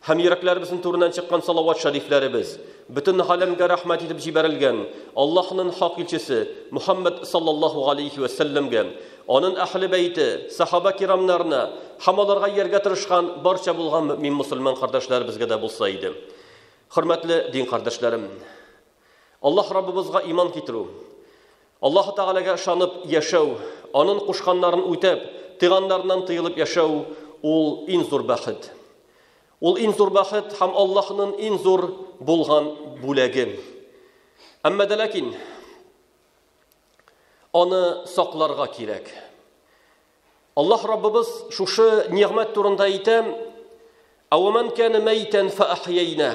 Һәм йөрәкләребезнең түреннән чыккан салават шәрифләребез, бөтен галәмгә рәхмәт итеп җибәрелгән Аллаһның хак илчесе Мөхәммәд саллаллаһу галәйһи вә сәлләмгә, аның әһле бәйте, сәхабә кирамнарына һәм аларга ияргә тырышкан барча булган мөэмин мөселман кардәшләребезгә дә булса иде. Хөрмәтле дин кардәшләрем! Аллаһ Раббыбызга иман китерү, Аллаһы Тәгаләгә ышанып яшәү, Анын кушканнарын үтәп, тыйганнарыннан тыелып яшәү, ул ин зур бәхет. Ул ин зур бәхет һәм Аллаһынын ин зур булган бүләге. Әмма дә ләкин аны сакларга кирәк. Аллаһ Раббыбыз шушы нигъмәт турында әйтә: "Әвәмән кәне мәйтән фәәхйәйнә".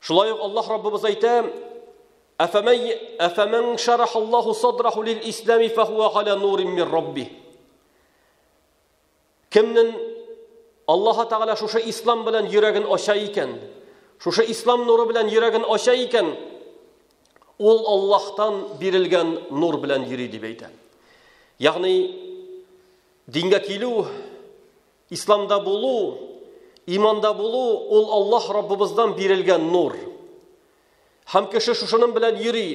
Шулай ук Аллаһ Раббыбыз әйтә, Афамай афаман шарахаллаху садраху лил ислами фахуа галя нурин мир рабби. Кемнен Аллаһ Тагала шушы ислам белән йөрәген ача икән, шушы ислам нуры белән йөрәген ача икән, ул Аллаһтан бирелгән нур белән йөри дип әйтә. Ягъни дингә килү Исламда булу, иманда булу ул Аллаһ Раббыбыздан бирелгән нур. Һәм кеше шушының белән йөри.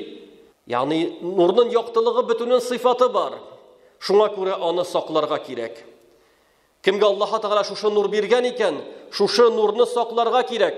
Ягъни нурның яктылыгы бөтенен сыйфаты бар. Шуңа күрә аны сакларга кирәк. Кемгә Аллаһ Тәгалә шушы нур биргән икән, шушы нурны сакларга кирәк.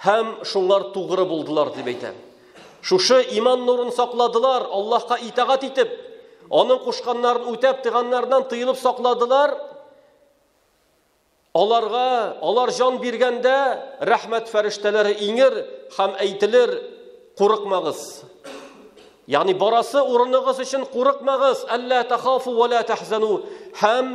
Һәм шуңар тугры булдылар, дип әйтә. Шушы иман нурын сакладылар, Аллаһка итагать итеп, аның кушканнарын үтәп, тыганнардан тыелып сакладылар. Аларга, алар җан биргәндә, рәхмәт фәрештәләре иңер һәм әйтелер, курыкмагыз. Ягъни барасы урыныгыз өчен курыкмагыз, әллә тахафу ва ла тахзану. Һәм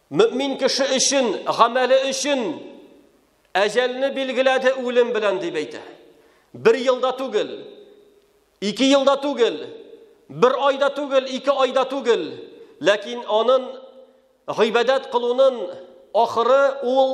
Мөмин кеше өчен, гамәле өчен әҗәлне билгеләде үлем белән дип әйтә. Бер елда түгел, ике елда түгел, бер айда түгел, ике айда түгел, ләкин анын гыйбадәт кылунын ахыры ул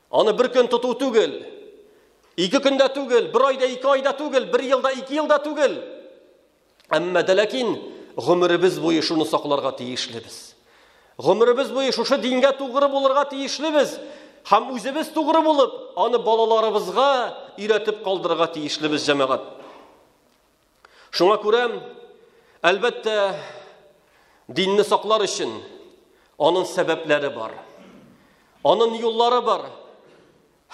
Аны бер көн тоту түгел, ике көндә түгел, бер айда ике айда түгел, бер елда ике елда түгел. Әмма дә ләкин гомеребез буе шуны сакларга тиешлебез. Гомеребез буе шушы дингә тугры булырга тиешлебез һәм үзебез тугры булып, аны балаларыбызга өйрәтеп калдырырга тиешлебез, җәмәгать. Шуңа күрә, әлбәттә, динне саклар өчен аның сәбәпләре бар. Аның юллары бар.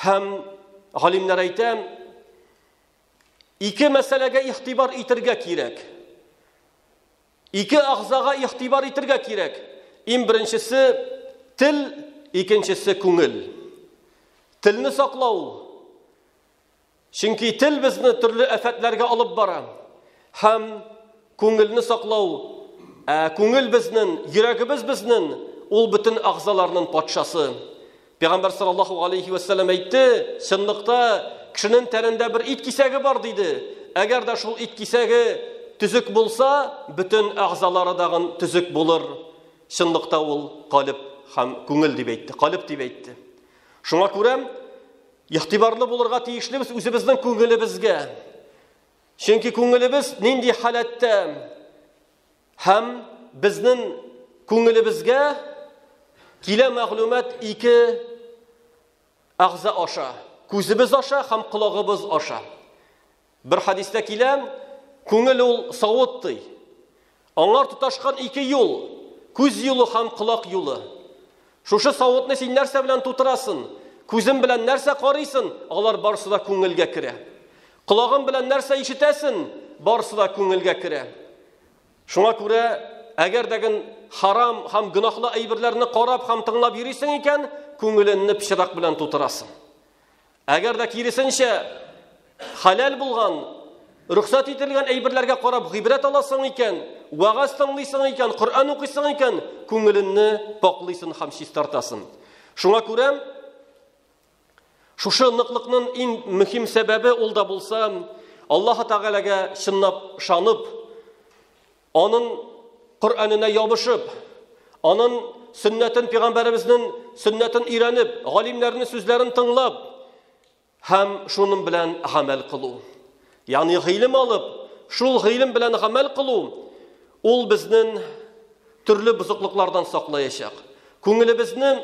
Һәм галимнәр әйтә, ике мәсьәләгә ихтибар итергә кирәк. Ике агзага ихтибар итергә кирәк. Иң беренчесе тел, икенчесе күңел. Телне саклау Чөнки тел безне төрле афәтләргә алып бара. Һәм күңелне саклау, ә күңел безнен, йөрәгебез безнен, ул бөтен агъзаларның патшасы. Пәйгамбәр саллаллаху алейхи ва саллям әйтте, чынлыкта кешенең тәнендә бер ит кисәге бар диде. Әгәр дә шул ит кисәге төзек булса, бөтен агъзалары дагын төзек булыр. Чынлыкта ул калып һәм күңел дип әйтте, калып дип әйтте. Шуңа күрә игътибарлы булырга тиешлебез үзебезнең күңелебезгә. Чөнки күңелебез нинди халәттә һәм безнең күңелебезгә килә мәгълүмат ике агъза аша, күзебез аша һәм колагыбыз аша. Бер хәдистә килә, күңел ул савыт ди. Аңар тоташкан ике юл, күз юлы һәм колак юлы. Шушы савытны син нәрсә белән тутырасын? Күзем белән нәрсә карыйсын? Алар барсы да күңелгә керә. Колагым белән нәрсә ишетәсен? Барсы да күңелгә керә. Шуңа күрә, әгәр дәген харам һәм гөнаһлы әйберләрне карап һәм тыңлап йөрисең икән, күңеленне пычрак белән тутырасың. Әгәр дә киресенчә, хәләл булган, рөхсәт ителгән әйберләргә карап гыйбрәт аласың икән, вагаз тыңлыйсың икән, Коръән укыйсың икән, күңеленне пакълыйсын һәм чистартасың. Шуңа күрә шушы ныклыкның иң мөһим сәбәбе ул да булса, Аллаһ Тәгаләгә чынлап шанып, Анын Коръәненә ябышып, анын сөннәтен пәйгамбәребезнең сөннәтен өйрәнеп, галимнәрнең сүзләрен тыңлап һәм шуның белән гамәл кылу. Ягъни гыйлем алып, шул гыйлем белән гамәл кылу ул безнең төрле бозыклыклардан саклаячак. Күңелебезне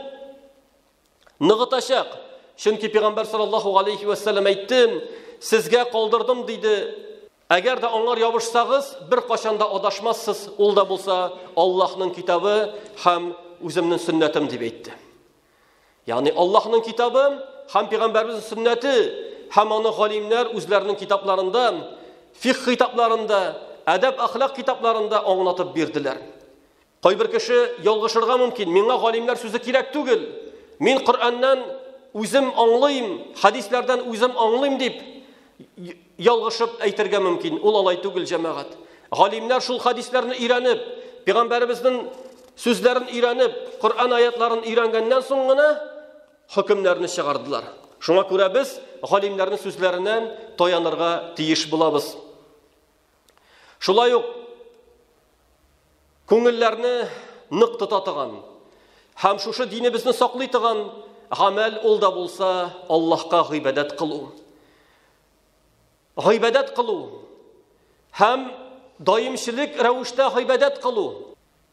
ныгытачак. Чөнки пәйгамбәр саллаллаһу алейхи ва саллям әйтте, сезгә калдырдым диде, Әгәр дә аңар ябышсагыз, бер качан да адашмассыз, ул да булса Аллаһның китабы һәм үземнең сөннәтем дип әйтте. Ягъни Аллаһның китабы һәм пәйгамбәребезнең сөннәте һәм аны галимнәр үзләренең китапларында, фикъ китапларында, әдәп-әхлак китапларында аңлатып бирделәр. Кайбер кеше ялгышырга мөмкин. Миңа галимнәр сүзе кирәк түгел. Мин Коръәннән үзем аңлыйм, хадисләрдән үзем аңлыйм дип ялгышып әйтергә мөмкин. Ул алай түгел, җәмәгать. Галимнәр шул хадисләрне өйрәнеп, пәйгамбәребезнең сүзләрен өйрәнеп, Коръән аятларын өйрәнгәннән соң гына хөкемнәрне чыгардылар. Шуңа күрә без галимнәрнең сүзләренә таянырга тиеш булабыз. Шулай ук күңелләрне нык тота торган һәм шушы динебезне саклый торган гамәл ул да булса Аллаһка гыйбадәт кылу. Гыйбадәт кылу һәм даимчелек рәвештә гыйбадәт кылу.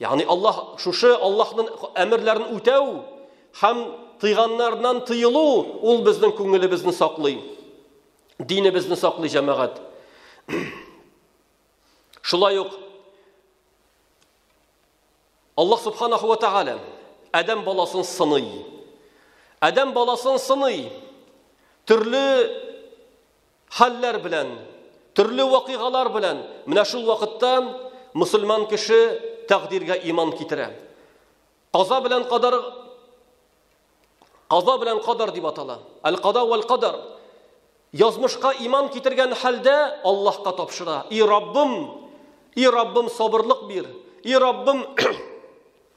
Ягъни Аллаһ шушы Аллаһның әмерләрен үтәү һәм тыйганнардан тыелу ул безнең күңелебезне саклый. Динебезне саклый җәмәгать. Шулай ук Аллаһ субханаху ва тагала Адәм баласын сыный. Адәм баласын сыный. Төрле Хәлләр белән, төрле вакыйгалар белән менә шул вакытта мөселман кеше тәкъдиргә иман китерә. Каза белән кадар Каза белән кадар дип атала. Әл-када вәл кадар. Язмышка иман китергән хәлдә Аллаһка тапшыра. И Раббым, и Раббым сабырлык бир. И Раббым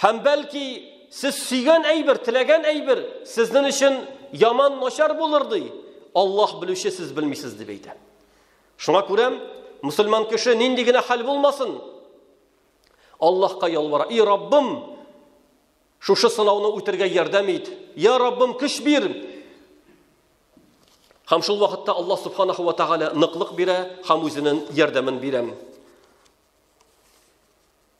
Һәм бәлки сез сөйгән әйбер, теләгән әйбер сезнең өчен яман начар булыр ди. Аллаһ белүче сез белмисез дип әйтә. Шуңа күрә мусульман кеше нинди генә хәл булмасын, Аллаһка ялвара. И Раббым, шушы сынауны үтергә ярдәм ит. Я Раббым, көч бир. Һәм шул вакытта Аллаһ субханаһу ва тагала ныклык бирә һәм үзенең ярдәмен бирә.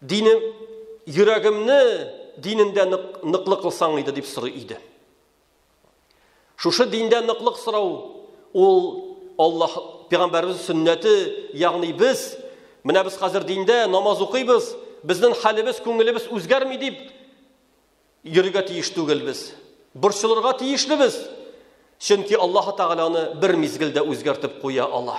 Динем, йөрәгемне динендә нык, ныклы кылсаң иде дип сорый иде. Шушы диндә ныклык сорау ул Аллаһ пәйгамбәрбез сөннәте, ягъни без менә без хәзер диндә намаз укыйбыз, безнең хәлебез, күңелебез үзгәрми дип йөрергә тиеш түгел без. Борчылырга тиешле без. Чөнки Аллаһ Тәгаләне бер мизгелдә үзгәртеп куя ала.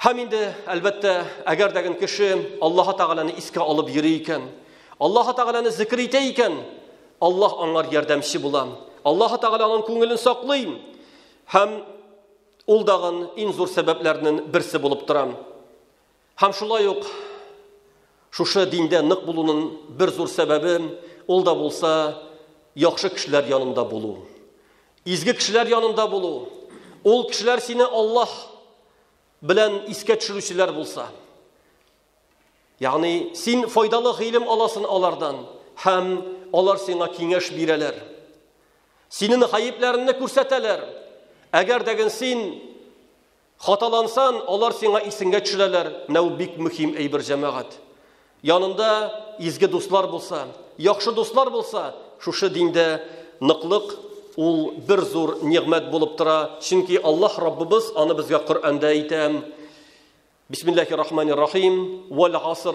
Һәм инде, әлбәттә, әгәр дәген кеше Аллаһ Тәгаләне искә алып йөри икән, Аллаһ Тәгаләне зикр итә икән, Аллаһ аңар ярдәмче була. Аллаһ Тәгалә аның күңелен саклый һәм ул дагын иң зур сәбәпләрнең берсе булып тора. Һәм шулай ук Шушы диндә нык булуның бер зур сәбәбе, ул да булса, яхшы кешеләр янында булу. Изге кешеләр янында булу. Ул кешеләр сине Аллаһ белән искә төшерүчеләр булса. Ягъни, син файдалы гыйлем аласын алардан һәм алар сиңа киңәш бирәләр. Синең гаепләреңне күрсәтәләр. Әгәр дәген син Хаталансан, алар сиңа исенгә төшерәләр, менә ул бик мөһим әйбер җәмәгать. Янында изге дуслар булса, яхшы дуслар булса, шушы диндә ныклык ул бер зур нигъмәт булып тора, чөнки Аллаһ Раббыбыз аны безгә Коръәндә әйтә. Бисмиллахир-рахманир-рахим, вәл-гаср,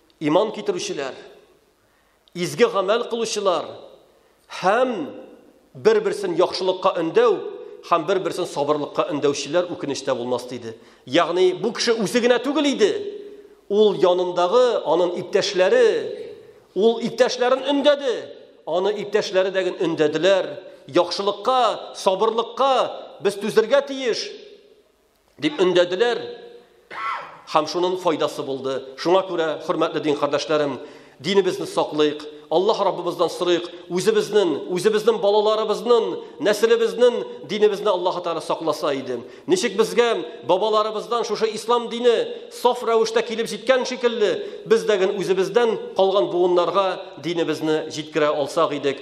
Иман китерүчеләр, изге гамәл кылучылар һәм бер-берсен яхшылыкка өндәү һәм бер-берсен сабырлыкка өндәүчеләр үкенештә булмас диде. Ягъни бу кеше үзе генә түгел иде. Ул янындагы, аның иптәшләре, ул иптәшләрен өндәде. Аны иптәшләре дә өндәделәр. Яхшылыкка, сабырлыкка без түзергә тиеш. Дип өндәделәр һәм шуның файдасы булды. Шуңа күрә, хөрмәтле дин кардәшләрем, динебезне саклыйк, Аллаһ Раббыбыздан сорыйк, үзебезнең, үзебезнең балаларыбызның, нәселебезнең динебезне Аллаһ Тәгалә сакласа иде. Ничек безгә бабаларыбыздан шушы ислам дине саф рәвештә килеп җиткән шикелле, без дә үзебездән калган буыннарга динебезне җиткерә алсак идек,